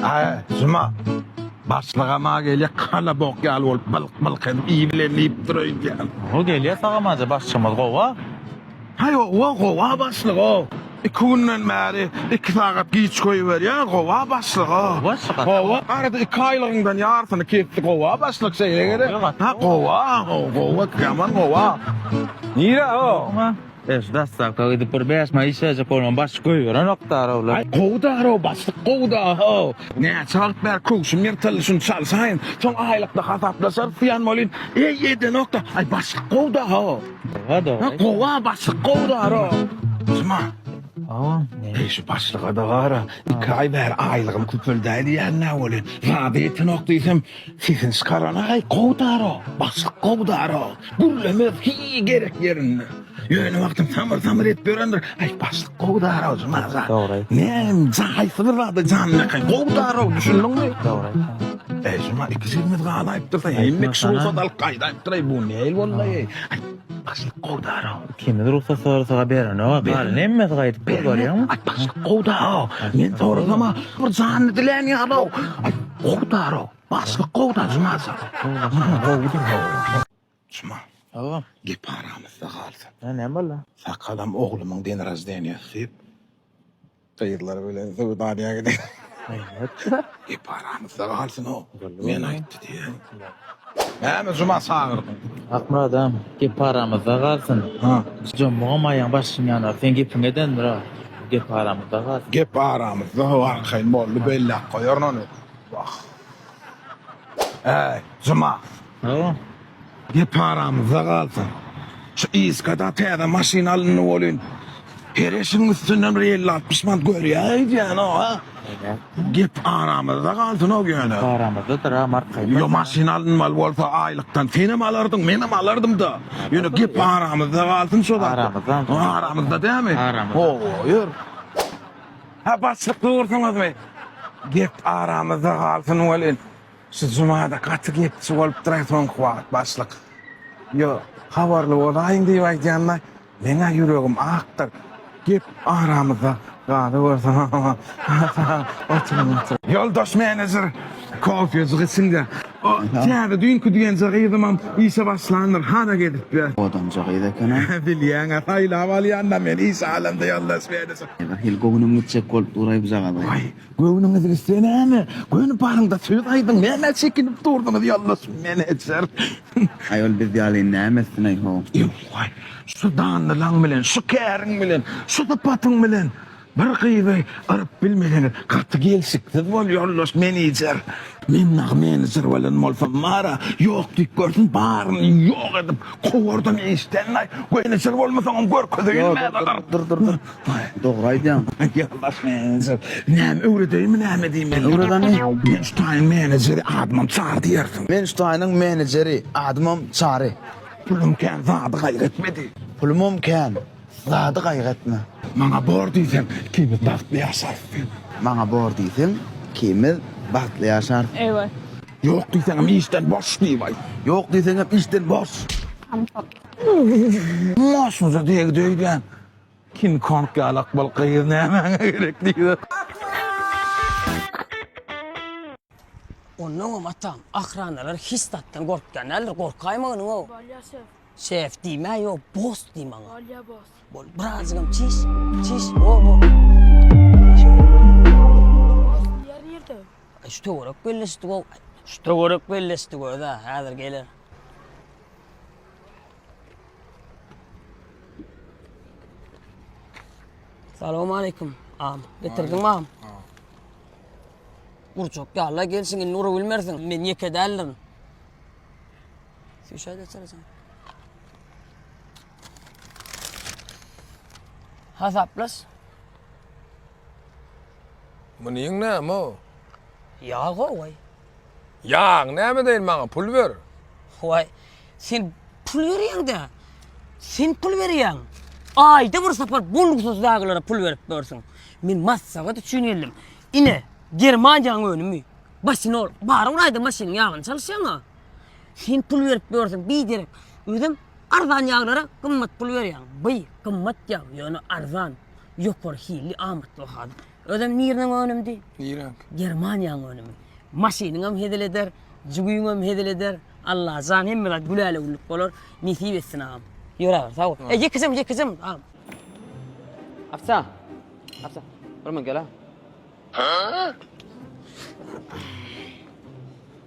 Aý, Juma. Başlygam-a gelýär, kala bok ýaly bolup, bylk-bylk edip, iý bilen iýip dur öýdýän. Gowy gelýär tagam-aja, başlygymyz gowa. Haý, owa, gowa başlyg-a. Iki günden bäri iki sagat giç goýberýär, gowa başlyg-a. Gowy başlyk, gaty gowy. Gowa, arada iki aýlygyňdan ýarsyny kesdi, gowa başlyk, şeýle gerek. Gowy, gaty gowy. Gowa, gowa, gowa, gaman gowa. Nire-o? Eş dassakda gidip bir bäş maý işlejek bolman başlyk goýberenok daraw la. Aý gowy daraw başlyk gowy da how. Näçe wagt bäri köwşüm ýyrtyldy şuny çalyşaýyn soň aýlykda hasaplaşarys diýen bolýyn eý edenokda aý başlyk gowy da how. Gowa da. Ha gowa başlyk gowy daraw. Juma. Awa. Eý şu başlyga da gara iki aý bäri aýlygym köpeldäý diýýän nä bolýa. Rady etenok diýsem. Sesini çykaranaý gowy daro, başlyk gowy daro, gürlemez hiý gerek ýerinde. Ýöne wagtyň samyr samyr edip ýörendir, aý başlyk gowy daro jumajan. Dogry aýtdy. Näm haýsy bir zada janlakaý gowy daro düşündiňmi? Dogry aýtdy. Äý juma iki jigimiz galaýypdyr, sen hemme kişi rugsat alyp gaýdaýypdyr aý bu nähili boldy aý. Aý başlyk gowy daro. Kimiz rugsat sorasa berenok galan hemmesi gaýdyp dur görýäňmi. Aý başlyk gowdaw men sorasama bir janyny dilän ýalow aý gowdarow başlyk gowda juma sag bol gowudyr. Juma. Hawa. Gep aramyzda galsyn. Näme boldy? Sakalam oglumyň denrazdeniýasy diýip Gyzlar bilen söwdanyýa gidip. Elbetde. Gep aramyzda galsyn o. Men aýtdy diýen. Näme juma çagyrdyň? Akmyrat agam, gep aramyzda galsyn. Ha. Jomugam aýagyň başyň ýanar. Seň gepiň edendir a. Gep aramyzda galsyn. Gep aramyzda ho arkaýyn boldy belläp goýaryn ony. Wah. Äý, juma. Hawa. Gep aramyzda galsyn. Şu Iskada täze maşyn alyndy welin, her eşigiň üstünden bir elli-altmyş manat görýär öýdýäň-ow, a? Eýýäm. Gep aramyzda galsyn-ow ýöne. Gep aramyzdadyr-a, marka aýtma. Ýo, maşyn alynmaly bolsa aýlykdan senem alardyň, menem alardym-da. Ýöne gep aramyzda galsyn şo zatlar. Aramyzda onsoň. Ha, aramyzda dämi? Aramyzda. Hawa, ýör. Hä, başlyk dursuňyzmy? Gep aramyzda galsyn welin. Şu jumada gaty gepçi bolup duray soňky wagt başlyk. Yo habarly bolaýyň diýip aýdýanla meňä ýüregim akdyr. Gep aramyzda galybersin hahaha oturyň oturyň. Ýoldaş menejer kofejik içinda o täze düýnki diýenje gyzymam işe başlandyr hana gezipdi. Odamja gyz ekena. Bilýäňä saýlap alýanda men işe alamda ýoldaş menejer. Birhili göwnüm gitjek bolup duray bujagazy. Waý Göwnüňiz gitse näme, göni baryňda söz aýdyň, nämä çekinip durdyňyz, ýoldaş menejer? Aý, ol biz ýaly näme etsin-aý-ho? Ew-waý, şu danlylaň bilen, şu käriň bilen, şu sypatyň bilen bir gyzy yryp bilmeseňiz, gaty gelşiksiz bol, ýoldaş menejer. Men dagy menejer bolan bolsam, bar-a, ýok diýip görsün, baryny ýok edip kowardam işden-aý. Menejer bolmasaňam görkezeýin, mäzakar. Dur, dur, dur, dur. Dogry aýdýaň. Ýa baş menejer, näme öwredeýinmi näme diýmeli? Öwredeni. Men şu taýyň menejeri, adymam Çary diýersiň. Men şu taýynyň menejeri, adymam Çary. Pulum kän, zady gaýgy etme diý. Pulumam kän, zady gaýgy etme. Maňa bor diýseň, ikimiz bagtly ýaşarys diý. Maňa bor diýseň, ikimiz bagtly ýaşarys. Eýwa. Ýok diýseňem işden boş diýibaý. Ýok diýseňem işden boş. Maşynja degdi öýdýän. King Kong ýaly akmal gyz nämäňe gerek diýip. Onnoňam atam, ahranalar hiç zatdan gorkýan däldir, gorkaýma onyňow. Bolýa şef. Şef diýme, ýok, boss diý maňa. Bolýa boss. Bol, birazjygam çiş, çiş, o, o. Boss, ýer nirde? Şu töwerek belleşdik-ow. Şu töwerek belleşdik öz-ä, häzir geler. Salam aleyküm. Am, getirdin mam? Urçak ya Allah gelsin indi ura bilmersin. Men yeke däldirin. Süýşä geçer sen. Hasaplaş. Munyň näme o? Ýago goý. Ýaň, näme deýin maňa pul ber. Howaý, sen pul berýäň-dä. Sen pul berýäň. Aýda bir sapar bolgusyz dagylara pul berip durarsyň. Men maslahat üçin geldim. Ine, Germaniýanyň önümi. Basinol, bar bir aýda maşynyň ýagyny çalyşýaň-a. Sen pul berip durarsyň, biderek. Özem arzan ýaglara gymmat pul berýäň. By, gymmat ýag, ýöne arzan. Ýokary hilli, amatly bahadyr. Özem niriniň önümdi? Nireňki? Germaniýanyň önümi. Maşynyňam hezil eder, jügüňem hezil eder. Allajan hemme zat gülälewüllik bolar. Nesip etsin agam. Ýör agam, sag bol. E, ýekejim, ýekejim, agam. Apsa. Apsa. Bir mün gel-ä.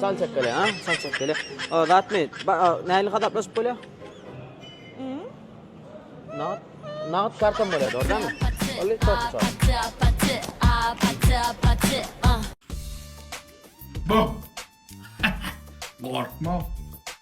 Çal çekele, ha? Çal çekele. O, zat mi? Näli hasaplaşyp bolýar? Nagt, nagt kartam bolýar, ordanmy? Oly çal çal. Bak. Korkma.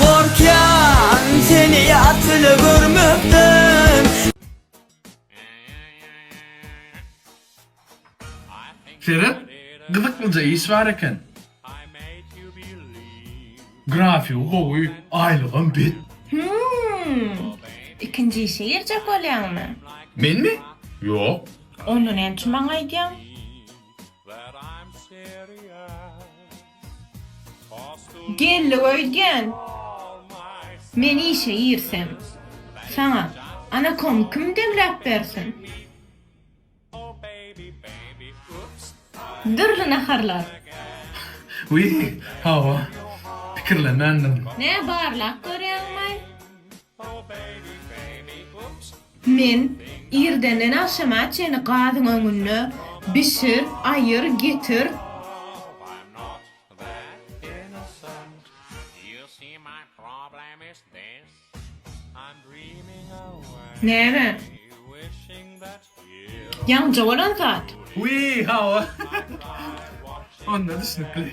Gorkýan seni ýat bile görmekden. Seret, gyzyklyja iş bar eken. Grafigi gowy, aýlygam bet. Hümm. Ikinji işe girjek bolýaňmy? Menmi? Ýok. Onda näme üçin maňa aýdýaň? Geldi öýdýän, men işe girsem. Saňa, ana kom kim demläp bersin? Dürli naharlar. Wiý, hawa, pikirlemändim. Nä barlap görýäňmi? Men, Irdenden agşama çenli gazyň öňünde bişir, aýyr, getir. Näme? Ýaňja bolan zat. Wiý, hawa. Onda düşnükli.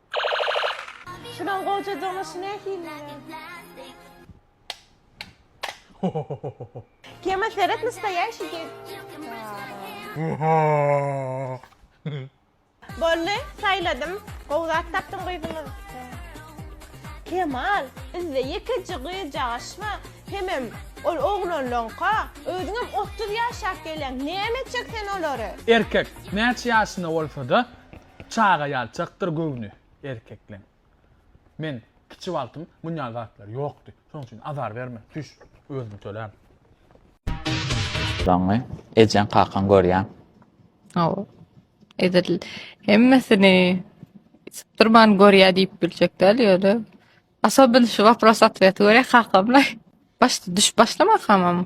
Şunuň gojajygyny şu nähiliň? Kema seret nastoyaşi Bolly saýladym gowy zat tapdym gyzymyz Kemal bizde ýekeje gyzjagaş bar hemem ol oglanlaňka özüňem otuz ýaşap gelýäň näme etjek sen olary. Erkek näçe ýaşynda bolsada Çaga ýaly çykdyr göwni erkekleň. Men kiçi wagtym muny ýaly zatlar ýokdy. Şonuň üçin azar berme, tüş, özüm tölärin. Soňy ejeň kakaň görýän. Hawa. Edil hemmesini sypdyrman görýä diýip biljek däl ýöne Asobyn şu wapros otweti görýä kakamla başda düşüp başlamakam.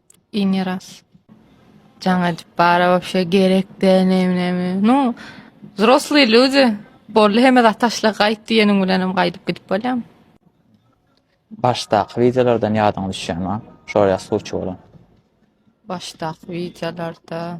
Ini ras. Jaň edip bara wapşe gerek de nemi nemi. Nu, zrosly lüdi. Bolly heme da taşla gayt diyeniň bilenim gaydyp gidip bolyan. Başdaky videolardan yadyň düşyan ma? Şoraya suçu bolan. Başdaky videolarda.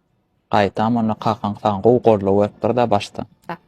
Gaýtam onda kakaň saňa gowy goldaw beripdir-dä başda. Sag.